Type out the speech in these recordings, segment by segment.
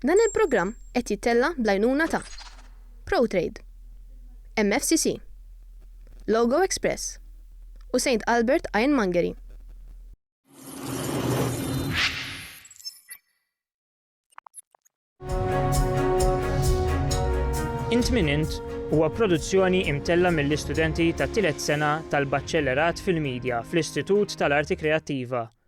Dan il-programm qed jittella' bl-għajnuna ta', Protrade, MFCC, Logo Express u Saint Albert Ironmongery. Int Min Int huwa produzzjoni imtella' mill-istudenti tat-tielet sena tal-Baċċellerat fil-Midja fl-Istitut tal-Arti Kreattiva,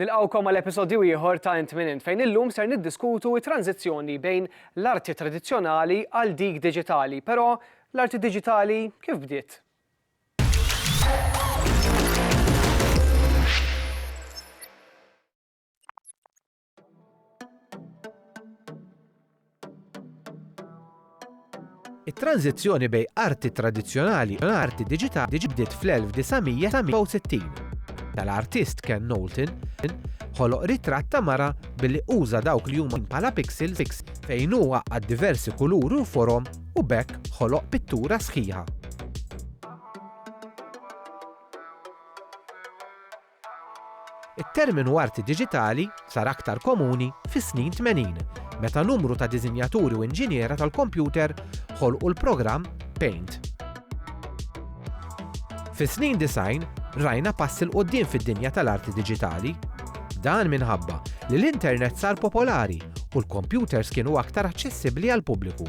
Nilqgħukom għal episodju ieħor ta' Int Min Int fejn illum ser niddiskutu t-tranżizzjoni bejn l-arti tradizzjonali għal dik diġitali. Però l-arti diġitali kif bdiet? It-tranżizzjoni bejn arti tradizzjonali u arti diġitali bdiet fl-1960. Tal-artist Ken Knowlton ħoloq ritratt ta' mara billi uża dawk li huma bħala pixels fejn hu għaqqad diversi kuluri u forom u b'hekk ħoloq pittura sħiħa. It-terminu arti diġitali sar aktar komuni fis-snin tmenin, meta numru ta' diżinjaturi u inġiniera tal-kompjuter ħolqu l-programm Paint. Fis-snin disgħin rajna pass 'il quddiem fid-dinja tal-arti diġitali. Dan minħabba li l-internet sar popolari u l-kompjuters kienu aktar aċċessibbli għall-pubbliku.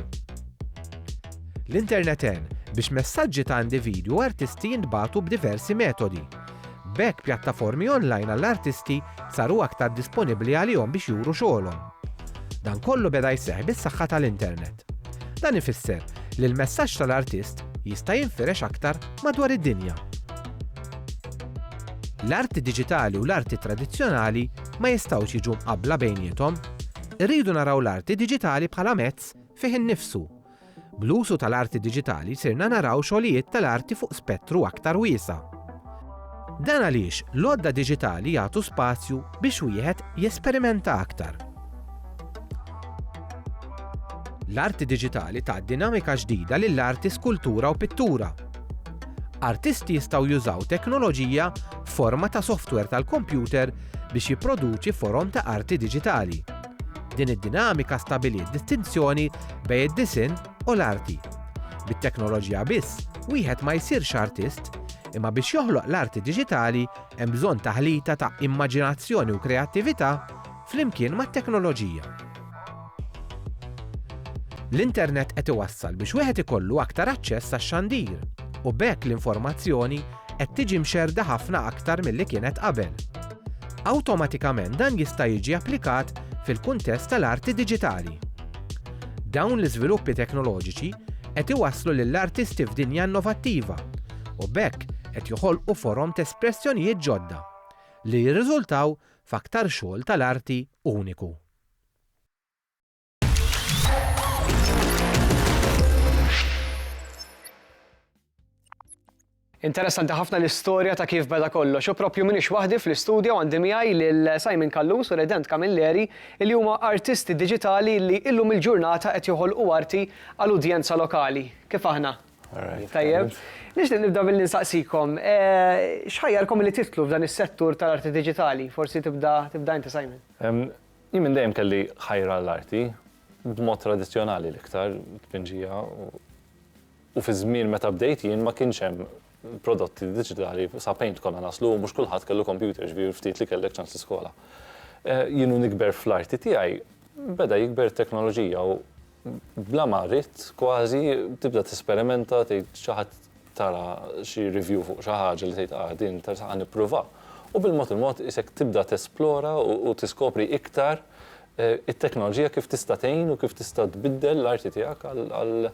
L-internet għen biex messaġġi ta' individwi u artisti jintbagħtu b'diversi metodi, B'hekk pjattaformi online għall-artisti saru aktar disponibbli għalihom biex juru xogħolhom. Dan kollu beda jseħħ bis-saħħa tal-internet. Dan ifisser li l-messaġġ tal-artist jista' jinfirex aktar madwar id-dinja. L-arti diġitali u l-arti tradizzjonali ma jistgħux jiġu mqabbla bejniethom. Irridu naraw l-arti diġitali bħala mezz fih innifsu Bl-użu tal-arti diġitali sirna naraw xogħlijiet tal-arti fuq spettru aktar wiesa'. Dan għaliex l-għodda diġitali jagħtu spazju biex wieħed jesperimenta aktar. L-arti diġitali tat dinamika ġdida lill-arti skultura u pittura. Artisti jistgħu jużaw teknoloġija f'forma ta' softwer tal-kompjuter biex jipproduċi forom ta' arti diġitali. Din id-dinamika stabiliet distinzjoni bejn id-disinn u l-arti. Bit-teknoloġija biss wieħed ma jsirx artist, imma biex joħloq l-arti diġitali hemm bżonn taħlita ta' immaġinazzjoni u kreattività flimkien mat-teknoloġija. L-internet qed iwassal biex wieħed ikollu aktar aċċess għax-xandir u b'hekk l-informazzjoni qed tiġi mxerrda ħafna aktar milli kienet qabel. Awtomatikament dan jista' jiġi applikat fil-kuntest tal-arti diġitali. Dawn l-iżviluppi teknoloġiċi qed iwasslu lill-artisti f'dinja innovattiva u b'hekk qed joħolqu forom t'espressjonijiet ġodda li jirriżultaw f'aktar xogħol tal-arti uniku. Interessanti ħafna l-istorja ta' kif beda kollox. U propju minix waħdi fl-istudju għandi miegħi lil Simon Kallus u Redent Camilleri li huma artisti digitali li illum il-ġurnata qed joħolqu arti għal udjenza lokali. Kif aħna? Tajjeb. Nixtieq nibda billi nsaqsikom, eh, x'ħajjarkom li titlu f'dan is-settur tal-arti digitali? Forsi tibda tibda inti Simon. Jien minn dejjem kelli ħajra għall-arti, b'mod tradizzjonali l-iktar, tpinġija, u fiż-żmien meta bdejt jien ma kienx hemm prodotti diġitali, sa paint konna naslu u mhux kulħadd kellu kompjuter, jiġifieri l-ftit li kellek ċans tiskola. Jien u nikber fl-arti tiegħi beda jikber it-teknoloġija u, bla ma ridt kważi tibda tesperimenta tgħid xi ħadd tara xi review fuq xi ħaġa li tgħid ah din interessant ħa nippruvha. U bil-mod il-mod qisek tibda tesplora u tiskopri iktar it-teknoloġija kif tista' tgħin u kif tista' tbiddel l-arti tiegħek għal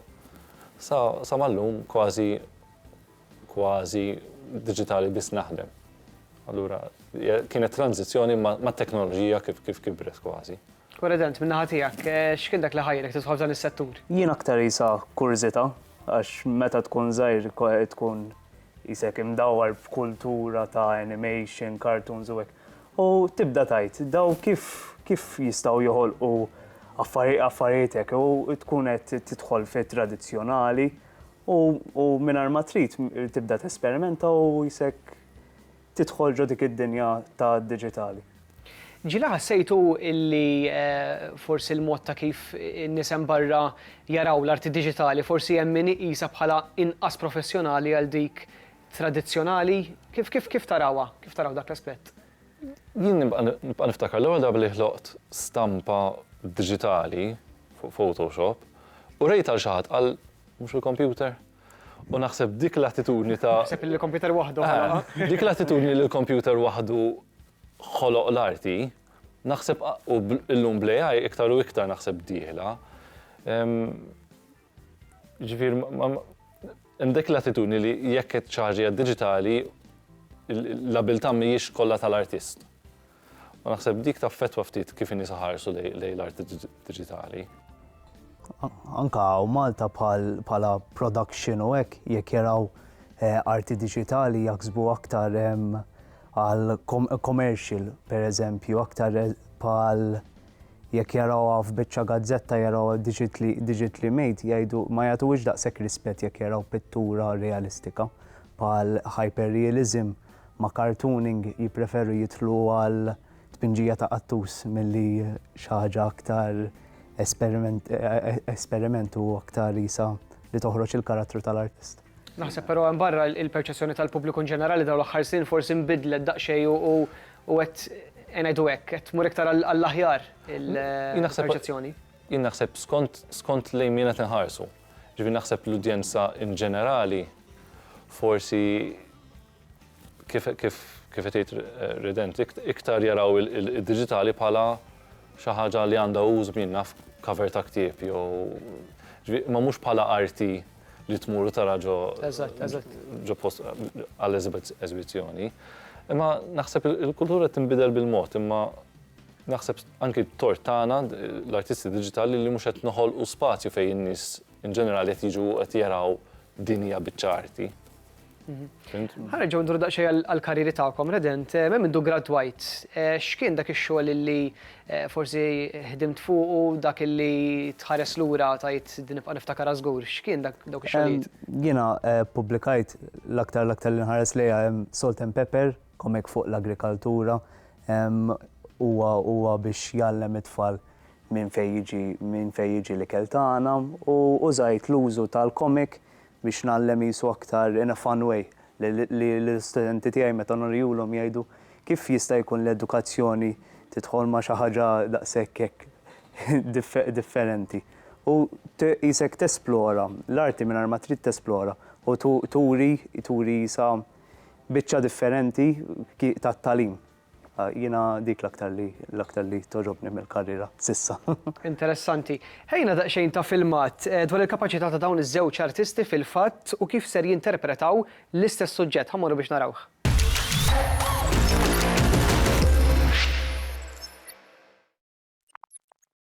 sa sa mal-lum kważi kważi diġitali biss naħdem. Allura kienet tranżizzjoni mat-teknoloġija kif kif kibret kważi. President, min-naħa tiegħek, x'kien dak li ħajjrek tidħol f'dan is-settur? Jien aktar qisha kurżità għax meta tkun żgħir tkun qisek imdawwar f'kultura ta' animation, cartoons u hekk. U tibda tgħid daw kif kif jistgħu joħolqu affarijiet hekk u tkun qed tidħol fit-tradizzjonali u mingħajr ma trid tibda tesperimenta u qisek tidħol ġo dik id-dinja tad-diġitali. Ġieli ħassejtu li forsi l-mod ta' kif in-nies hemm barra jaraw l-arti diġitali forsi hemm min iqisha bħala inqas professjonali għal dik tradizzjonali? Kif kif kif tarawha, kif taraw dak l-aspett? Jien nibqa' nibqa' niftakar l-ewwel darba li ħloqt stampa diġitali fuq Photoshop u rejtha lil xi ħadd qal, mhux il-kompjuter? U naħseb dik l-attitudni ta'. Taħseb li l-kompjuter waħdu ħoloqha? Eh, dik l-attitudni li l-kompjuter waħdu ħoloq l-arti, naħseb u llum bl-AI iktar u iktar naħseb dieħla. Ġifir, imdek l-attitudni li jekk ċaġi digitali l-abilta mhijiex kollha tal-artist. U naħseb dik taffettwa ftit kif in-nies iħarsu lejn l-art diġitali. Anke hawn Malta bħala production u hekk jekk jaraw eh, arti diġitali jaħsbu aktar ehm, għal commercial pereżempju, aktar eh, bħal jekk jaraw għaf bieċa gazzetta jaraw digitally made, jajdu ma jgħatu iġdaq sekk rispet jekk jaraw pittura realistika. bħal hyperrealism ma' cartooning jippreferu jidħlu għal tpinġija ta' qattus milli xi ħaġa aktar esperiment u aktar qisha li toħroġ il-karattru tal-artist. Naħseb però hemm barra il-perċezzjoni tal-pubbliku inġenerali dawn l-aħħar snin forsi nbidlet daqsxejn u qed ngħidu hekk qed tmur iktar għall-aħjar il-perċezzjoni. Jien naħseb skont, skont lejn min qed inħarsu. Jiġifieri naħseb l-udjenza in ġenerali forsi kif, kif, kif qed jgħid Rident, iktar jaraw id-diġitali bħala xi ħaġa li għandha użu min jaf, cover ta' ktieb jew, jiġifieri, imma mhux bħala arti li tmur u tara ġo, ġo post għal eżibizzjoni. Imma naħseb il-kultura qed tinbidel bil-mod imma Naħseb anki t-tort tagħna, l-artisti diġitali, li mhux qed noħolqu spazju fejn in-nies in ġenerali qed jiġu u qed jaraw din hija biċċa arti. Ħa nerġgħu nduru daqsxejn għall-karrieri tagħkom, Redent, eh, minn mindu gradwajt, eh, x'kien dak ix-xogħol li eh, forsi ħdimt fuqu dak li tħares lura tajt din nibqa' niftakar żgur, x'kien dak dawk ix-xogħlijiet? Jiena pubblikajt l-aktar l-aktar li nħares lejha Salt and Pepper Comic fuq l-agrikaltura, huwa huwa biex jgħallem it-tfal minn fejn jiġi minn fejn jiġi l-ikel tagħna u użajt l-użu tal-comic biex ngħallem qisu aktar in a fun way lill-istudenti tiegħi meta nurihulhom jgħidu kif jista' jkun li edukazzjoni tidħol ma' xi ħaġa daqshekk hekk differenti u qisek tesplora l-arti mingħajr ma trid tesplora u turi turi qisha biċċa differenti tat-tagħlim. Jiena dik l-aktar li l-aktar li togħġobni mill-karriera s'issa. Interessanti. Ħejjina daqsxejn ta' filmat dwar il-kapaċità ta' dawn iż-żewġ artisti fil-fatt u kif ser jinterpretaw l-istess suġġett. Ħa mmorru biex narawh.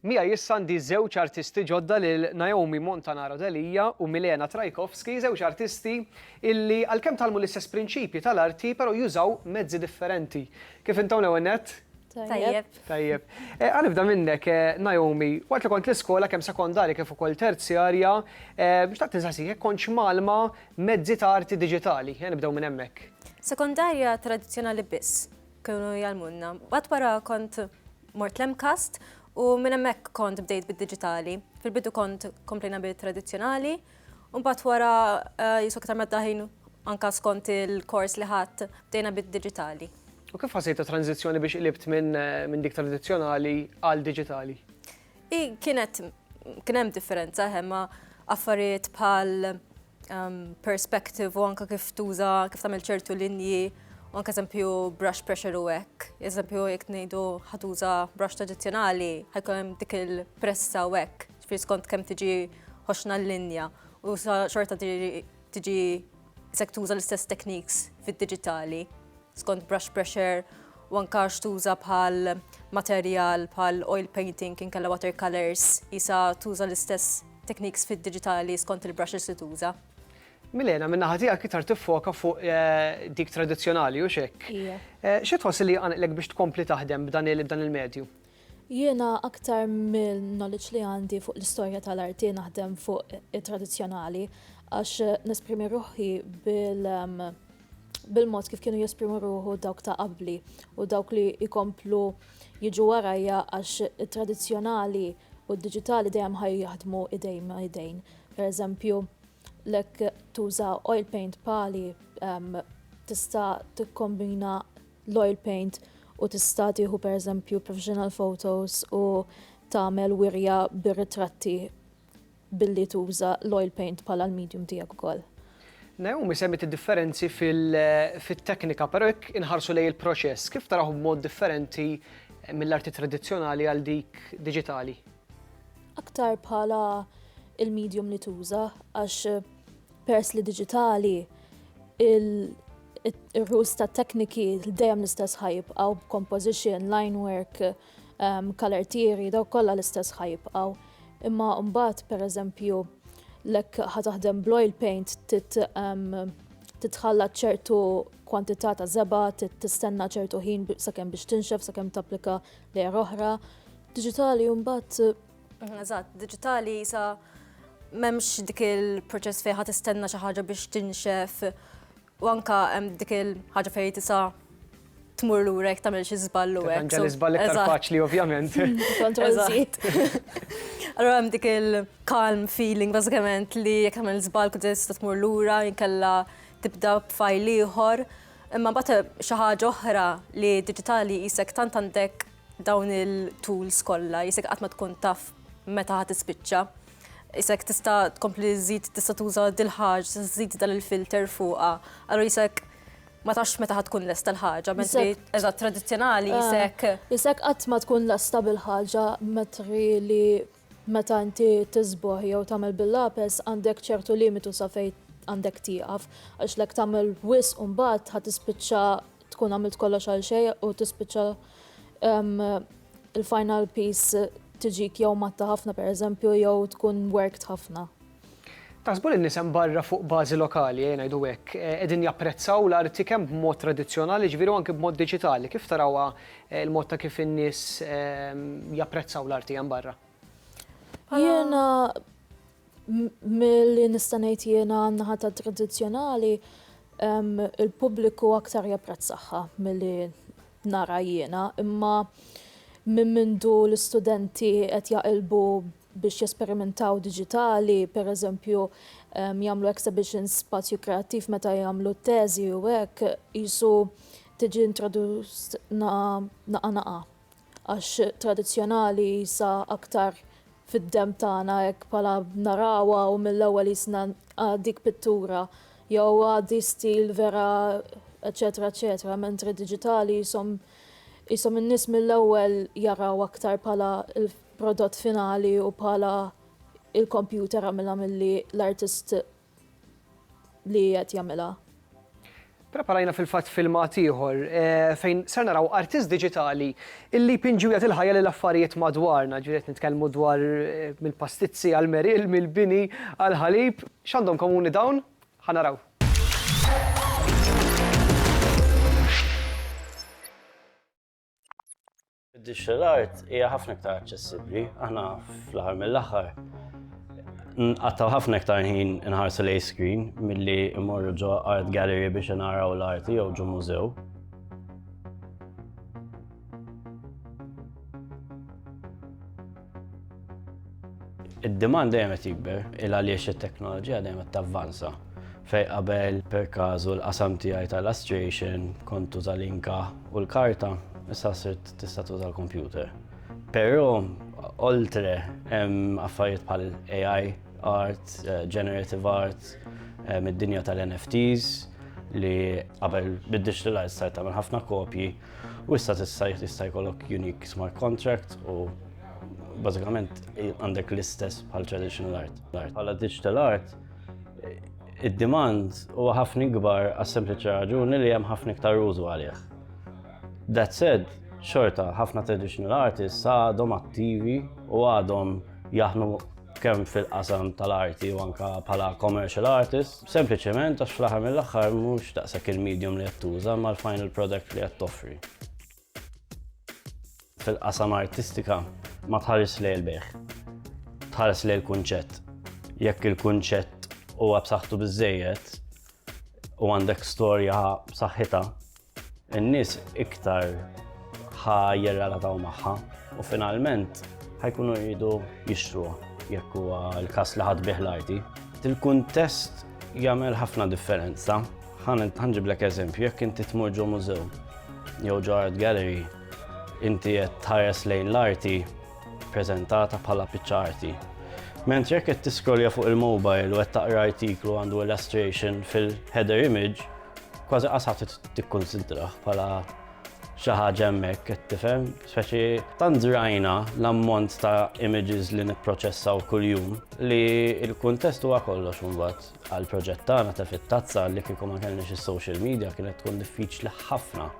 Miegħi issa għandi żewġ artisti ġodda lil Naomi Montanaro Delia u Milena Trajkovski, żewġ artisti illi għalkemm tgħallmu l-istess prinċipji tal-arti pero jużaw mezzi differenti. Kif intom l-ewwel nett? Tajjeb. Tajjeb. Ħa nibda minnek Naomi, waqt li kont l-iskola kemm sekondarja kif ukoll terzjarja, xtaqt insaqsik jekk kontx mgħallma mezzi ta' arti diġitali. Ejja nibdew minn hemmhekk. Sekondarja tradizzjonali biss. Kienu jgħallmunna. Mbagħad wara kont mort l-MCAST u minn hemmhekk kont bdejt bid-diġitali. Fil-bidu kont komplejna bit-tradizzjonali, u mbagħad wara eh, jiswa kitar medda ħin anka skont il-kors li ħadd bdejna bid-diġitali. U kif ħasejt ta' tranzizzjoni biex qlibt minn eh, minn dik tradizzjonali għal diġitali? I kienet kien hemm differenza ħemma affarijiet bħal um, perspective u anka kif tuża kif tagħmel ċertu linji u anka eżempju brush pressure u hekk. Eżempju jekk ngħidu ħatuża brush tradizzjonali ħajkun hemm dik il-pressa u hekk. Ġifieri skont kemm tiġi ħoxna l-linja u xorta tiġi sektuża l-istess techniques fid-diġitali. skont brush pressure u anka x'tuża bħal materjal bħal oil painting inkella water colors isa tuża l-istess techniques fid-diġitali skont il-brushes li tuża. Milena, minn naħa tiegħek iktar tiffoka fuq eh, dik tradizzjonali u xek. Eh, xi tħoss li għanqlek biex tkompli taħdem b'dan il-medju? Jiena aktar mill-knowledge li għandi fuq l-istorja tal-arti naħdem fuq it-tradizzjonali għax nesprimi ruħi bil- ehm, bil-mod kif kienu jesprimu ruħu dawk ta' qabli u dawk li jkomplu jiġu warajja għax it-tradizzjonali u d-diġitali dejjem ħaj jaħdmu idejn ma' idejn. Per eżempju, lek tuża oil paint pali um, tista' tikkombina l-oil paint u tista' tieħu per eżempju professional photos u tagħmel wirja bir-ritratti billi tuża l-oil paint bħala l-medium tiegħek ukoll. Naomi semmiet id-differenzi fit-teknika, però jekk inħarsu lejn il-proċess, kif tarawh b'mod differenti mill-arti tradizzjonali għal dik diġitali? Aktar bħala il-medium li tuża għax pers li diġitali il-rules ta' tekniki dejjem l-istess ħajib għaw composition, line work, kalertieri dawk kollha l-istess ħa jibqgħu. Imma mbagħad pereżempju lek ħa taħdem bl-oil paint titħalla ċertu kwantità ta' żeba, tistenna ċertu ħin sakemm biex tinxef, sakemm tapplika lejha oħra. Diġitali mbagħad. Mhm, eżatt, diġitali sa m'hemmx dik il-proċess fejn ħa tistenna xi ħaġa biex tinxef U anke hemm dik il-ħaġa fejn tista' tmur lura jekk tagħmel xi żball u hekk. Ġa l-iżball iktar faċli ovvjament. Allura hemm dik il-calm feeling bażikament li jekk tagħmel żball kont tista' tmur lura inkella tibda b'fajl ieħor. Imma mbagħad xi ħaġa oħra li diġitali qisek tant għandek Dawn il-tools kollha jisek qatt ma tkun taf meta ħa tispiċċa. Jisek tista' tkompli żid tista' tuża dil-ħaġ, żid dan il-filter fuqha. Allura jisek ma tafx meta ħa tkun lesta l-ħaġa, mentri eżatt tradizzjonali jisek. Jisek qatt ma tkun lesta bil-ħaġa metri li Meta inti tiżbogħ jew tagħmel bil-lapes għandek ċertu limitu sa fejn għandek tieqaf għax l-hekk tagħmel wisq mbagħad ħa tispiċċa tkun għamilt kollox għal xejn u tispiċċa il-final piece tiġik jew matta ħafna pereżempju jew tkun werkt ħafna. Taħsbu li n-nies hemm barra fuq bażi lokali, ejja ngħidu hekk, qegħdin japprezzaw l-arti kemm b'mod tradizzjonali, jiġifieri u anki b'mod diġitali? Kif tarawha l-mod ta' kif in-nies japprezzaw l-arti hemm barra? Jiena milli nista' ngħid jiena għan-naħa tat-tradizzjonali, il-pubbliku aktar japprezzahha milli nara jiena, imma minn mindu l-istudenti qed jaqilbu biex jesperimentaw diġitali, per eżempju jagħmlu exhibitions spazju kreattiv meta jagħmlu t-teżi u hekk, qisu tiġi introduced naqa' naqa' għax tradizzjonali sa aktar fid-demm tagħna hekk bħala narawha u mill-ewwel qisna dik pittura jew għadi stil vera eċċetera eċċetera mentri diġitali qishom qishom in-nies mill-ewwel jaraw aktar bħala prodott finali u bħala il-kompjuter għamilha milli l-artist li qed jagħmilha. Preparajna fil-fatt filmat ieħor fejn ser naraw artist diġitali illi jpinġi u jagħti l-ħajja lil affarijiet madwarna, ġifieri qed nitkellmu dwar mill-pastizzi għall-meril, mill-bini għall-ħalib. X'għandhom komuni dawn? Ħa naraw. Digital art hija ħafna iktar aċċessibbli. Aħna fl-aħħar mill-aħħar nqattaw ħafna iktar ħin inħarsu lej screen milli immorru ġo art gallery biex naraw l-arti jew ġo mużew. Id-demand dejjem qed jikber, il għaliex it-teknoloġija dejjem qed tavvanza. Fejn qabel, per kazu, l-qasam tiegħi ta' illustration kont tuża l-inka u l-karta, issa sirt tista' tuża l-kompjuter. Però, oltre, hemm affarijiet bħal AI art, generative art, hemm id-dinja tal-NFTs li qabel bid-diġitalized sajt tagħmel ħafna kopji, U issa tista' jista' jkollok unique smart contract u bażikament għandek l-istess bħal traditional art. Bħala digital art, id-demand huwa ħafna ikbar għas sempliċi raġuni li hemm ħafna iktar użu għalih. That said, xorta ħafna traditional artists għadhom attivi u għadhom jaħnu kemm fil-qasam tal-arti u anka bħala commercial artists. Sempliċement għax fl-aħħar mill-aħħar mhux daqshekk il-medium li qed tuża imma l-final product li qed toffri. Fil-qasam artistika ma tħares lejn il-bejħ. Tħares lejn il-kunċett. Jekk il-kunċett huwa b'saħħtu biżejjed u għandek storja b'saħħitha, In-nies iktar ħa jirrelataw magħha u finalment ħajkunu jridu jixtruha jekk huwa l-każ li ħadd bih l-arti. Il-kuntest jagħmel ħafna differenza. Ħanġiblek eżempju, jekk inti tmur ġo mużew jew ġo art gallery, inti qed tħares lejn l-arti prezentata bħala piċċa arti. Mentri jekk qed tiskrolja fuq il-mobile u qed taqra artiklu għandu illustration fil-header image, Kważi qas ħadd tikkunsidrah bħala xi ħaġa hemmhekk qed tifhem, speċi tant żrajna l-ammont ta' images li nipproċessaw kuljum li l-kuntest huwa kollox imbagħad għall-proġett tagħna ta' fit-tazza li kieku ma kellniex is-social media kienet tkun diffiċli ħafna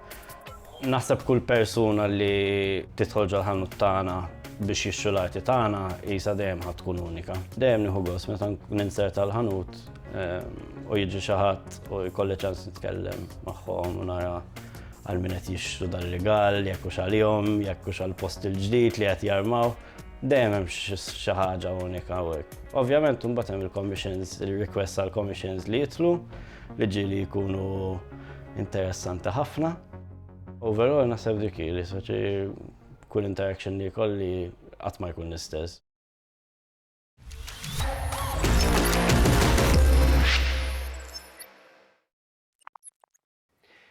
Naħseb kull persuna li tidħol ġol-ħanut tagħna biex jixtru l-arti tagħna qisha dejjem ħadd tkun unika. Dejjem nieħu gost meta nkun insert tal-ħanut ehm, u jiġi xi ħadd u jkolli ċans nitkellem magħhom u nara għal min qed jixtru dal-rigal, jekk hux għalihom, jekk hux għall-post il-ġdid li qed jarmaw. Dejjem hemm xi ħaġa unika hekk. Ovvjament imbagħad hemm il-commissions, il-request għall-commissions li jitlu Liġi li jkunu interessanti ħafna. Overall naħseb dik li soċi kull interaction li kolli qatt ma jkun l-istess.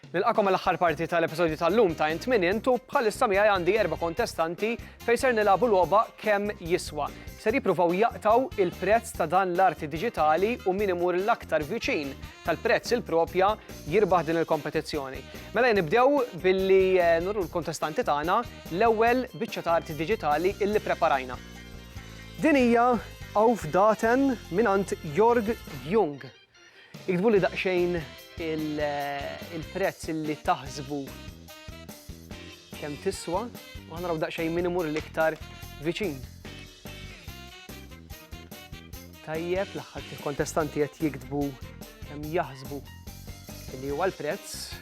Nilqagħkom għall-aħħar parti tal-episodju tal-lum ta' Int Min Int u bħalissa miegħi għandi erba' kontestanti fejn ser nilagħbu logħba Kemm Jiswa. Ser jippruvaw jaqtgħu il-prezz ta' dan l-arti diġitali u min imur l-aktar viċin tal-prezz il-propja jirbaħ din il-kompetizzjoni. Mela nibdew billi nuru l-kontestanti tagħna l-ewwel biċċa ta' arti diġitali illi preparajna. Din hija Auf Daten mingħand Jörg Jung. Iktbuli daqsxejn il-prezz li taħsbu kemm tiswa u ħanaraw daqsxejn min imur l-iktar viċin. Tajjeb, l-aħħar kontestant qed jiktbu kemm jaħsbu li huwa l-prezz.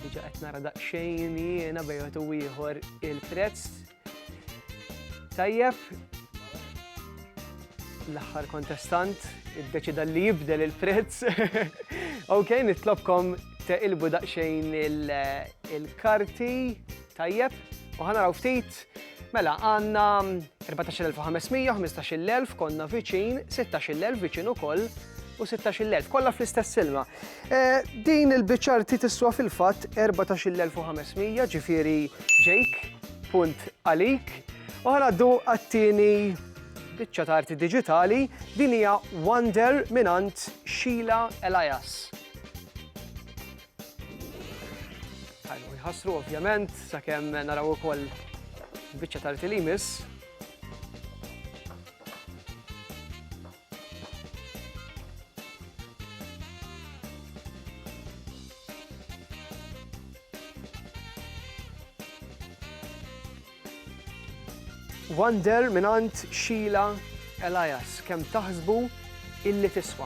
Diġa qed nara daqsxejn jiena bejgħet u ieħor il-prezz Tajjeb. L-aħħar kontestant iddeċida li jibdel il-prezz. Ok, nitlobkom teqilbu daqsxejn il-karti. Tajjeb. U ħanaraw ftit. Mela, għanna 14.500, 15.000, konna viċin, 16.000 viċin ukoll, u 16,000, kollha fl-istess ilma. Eh, din il-biċċa arti tiswa fil-fatt 14,500, ġifieri ġejk, punt għalik. U ħanaddu għattini biċċa ta' arti digitali, din hija Wonder minant Sheila Elias. Għajmu jħassru ovvjament, sakemm naraw ukoll biċċa ta' arti li jmiss. Wonder mingħand Sheila Elias, Kemm taħsbu illi tiswa?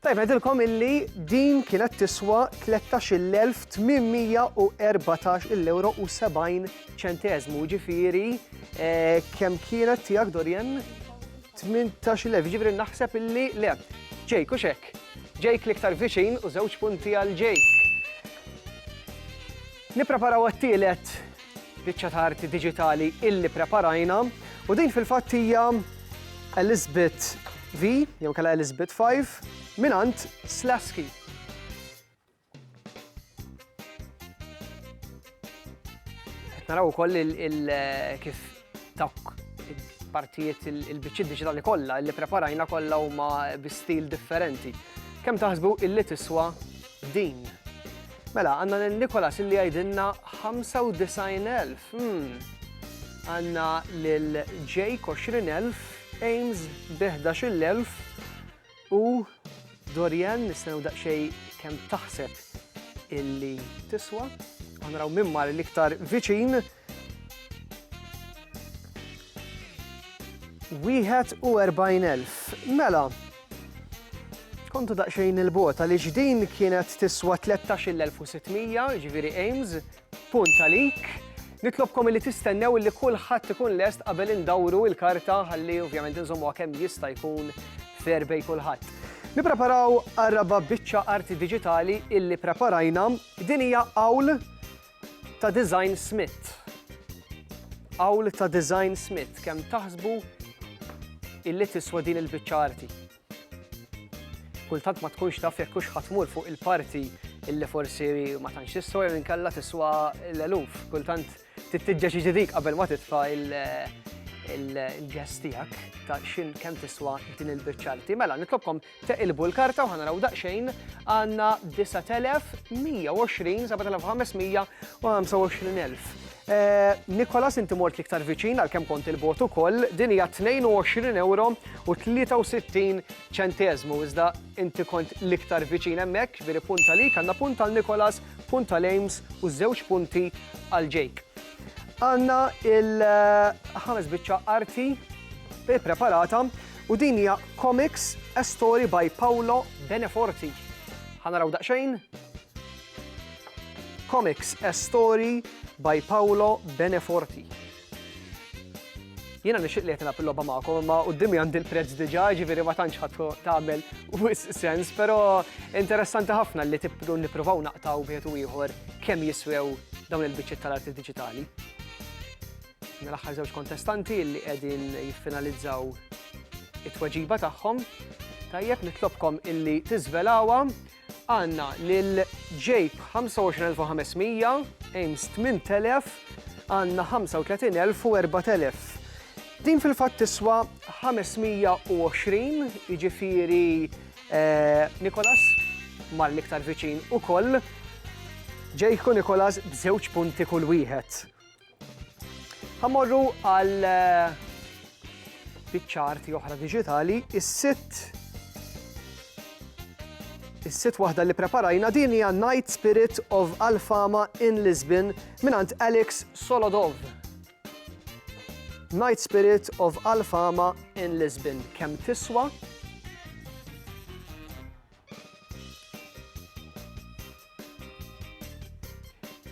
Tajjeb ngħidilkom illi din kienet tiswa 13,814 il-ewro u 70 ċenteżmu, ġifieri kemm kienet tiegħek Dorian? 18,000, ġifieri naħseb illi le. Ġejk u x'hekk. Ġejk l-iktar viċin u żewġ punti għal ġejk. Nippreparaw għat-tielet biċċa ta' arti diġitali illi preparajna u din fil-fatt hija Elizabeth V jew inkella Elizabeth V mingħand Slasky. Naraw ukoll kif Dawk il-partijiet il-biċċiet diġitali kollha li preparajna kollha huma bi stil differenti. Kemm taħsbu illi tiswa din? Mela, għandna lil Nikolas illi jgħidilna 95,000. Hmm. Għandna lil Jake 20,000, Ames bi 11,000 u Dorian nistennew daqsxejn kemm taħseb illi tiswa. Għanraw minn mar l-iktar viċin Wieħed u erbgħin elf. Mela, kontu daqsxejn il-bota li ġdin kienet tiswa 13,600, ġifieri Ames, punt għalik. Nitlobkom li tistennew li kulħadd ikun lest qabel indawru il-karta ħalli ovvjament inżommu kemm jista' jkun fair bej kulħadd. Nippreparaw għarraba biċċa arti diġitali illi preparajna din hija qawl Ta' Design Smith. Qawl ta' Design Smith kemm taħsbu illi tiswa din il-biċċa arti. Kultant ma tkunx taf jekk hux ħatmur fuq il-parti illi forsi ma tantx tiswa jew inkella tiswa l-eluf. Kultant tittiġġeġ ġidik qabel ma titfa' il-ġest tiegħek ta' x'in kemm tiswa din il-biċċa arti. Mela, nitlobkom Teqilbu l-karta u ħa naraw daqsxejn, għandna 9120, 7500 u 25000. Eh, Nikolas inti mort liktar viċin għal kem kont il-bot ukoll, din hija 22 euro u 63 ċentezmu, iżda inti kont liktar viċin hemmhekk, veri punta li għandna punta għal Nikolas, punta għal Ames u żewġ punti għal Jake. Għanna il-ħames eh, biċċa arti preparata U din hija Comics, a story by Paolo Beneforti. Ħa naraw daqsxejn? Comics, a story by Paolo Beneforti. Jiena nixtieq li qed nilgħab il-logħba magħkom, imma quddiemi għandi l-prezz diġà, ġifieri ma tantx ħadd tagħmel wis sens, però interessanti ħafna li tibdu nippruvaw naqtaw wieħed u ieħor kemm jiswew dawn il-biċċiet tal-arti diġitali. Mela aħħar żewġ kontestanti li qegħdin jiffinalizzaw it-tweġiba tagħhom. Tajjeb nitlobkom illi tiżvelawha għandna lil ġejb 25500, Ames 8000, għandna 35,000 u 4000. Din fil-fatt tiswa 520, jiġifieri eh, Nikolas mal iktar viċin ukoll. Ġejku Nikolas b'żewġ punti kull wieħed. Ħamorru għal eh, biċċarti oħra digitali, is-sit is-sit waħda li preparajna din hija Night Spirit of Alfama in Lisbon mingħand Alex Solodov. Night Spirit of Alfama in Lisbon. Kemm tiswa?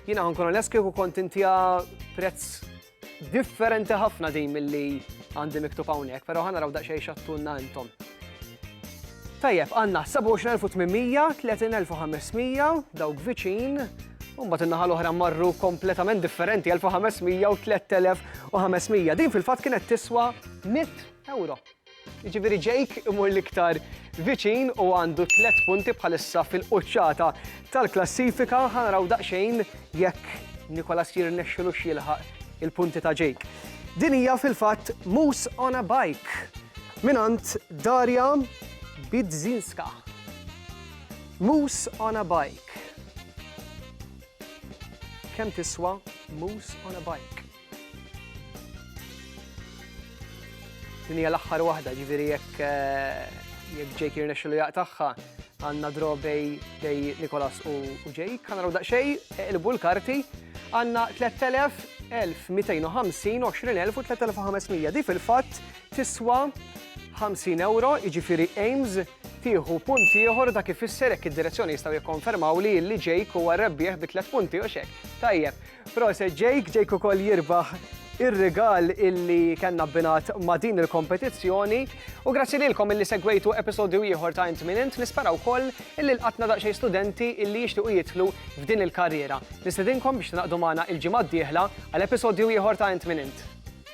Jina għan kuna leski u kont intija prezz differenti ħafna din mill-li għandi miktub hawnhekk, pero ħana raw daqxej xattunna intom. Tajjeb, għanna 27,800, 30,500, dawk viċin, Umbat innaħa l-oħra marru kompletament differenti, 1500 u 3500. Din fil-fat kienet tiswa 100 euro. Jiġifieri Jake imur l-iktar viċin u għandu tliet punti bħalissa fil-quċċata tal-klassifika. Ħa naraw daqsxejn jekk Nicholas jirnexxilux jilħaq il-punti ta' Jake. Din hija fil-fatt Moose on a Bike mingħand Darja Bidzinska. Moose on a Bike. Kemm tiswa Moose on a Bike? Din hija l-aħħar waħda, ġifieri jekk jekk Jake jirnexxilu jaqtagħha għandna draw bej bej Nikolas u Jake. Għandna raw daqsxejn iqilbu l-karti għandna 3000, 1250, 20000 u 3500. Di fil-fatt tiswa 50 euro, jiġifieri Ames tieħu punt ieħor dak ifisser hekk id-direzzjoni jistgħu jikkonfermaw li li Jake huwa rebbieħ bi tliet punti u xek. Tajjeb, Proset Jake, Jake ukoll jirbaħ ir-rigal illi kellna binat ma' din il-kompetizzjoni u grazzi lilkom illi segwejtu episodju ieħor ta' Int Min Int nispera wkoll illi lqatna daqsxejn studenti illi jixtiequ jidħlu f'din il-karriera. Nistedinkom biex tingħaqdu magħna l-ġimgħa d-dieħla għal episodju ieħor ta' Int Min Int.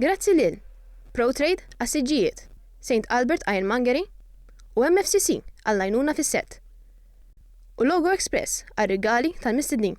Grazzi lil ProTrade għas-siġġijiet, St Albert Ironmongery u MFCC għall-għajnuna fis-sett, u Logo Express għar-rigali tal-mistednin.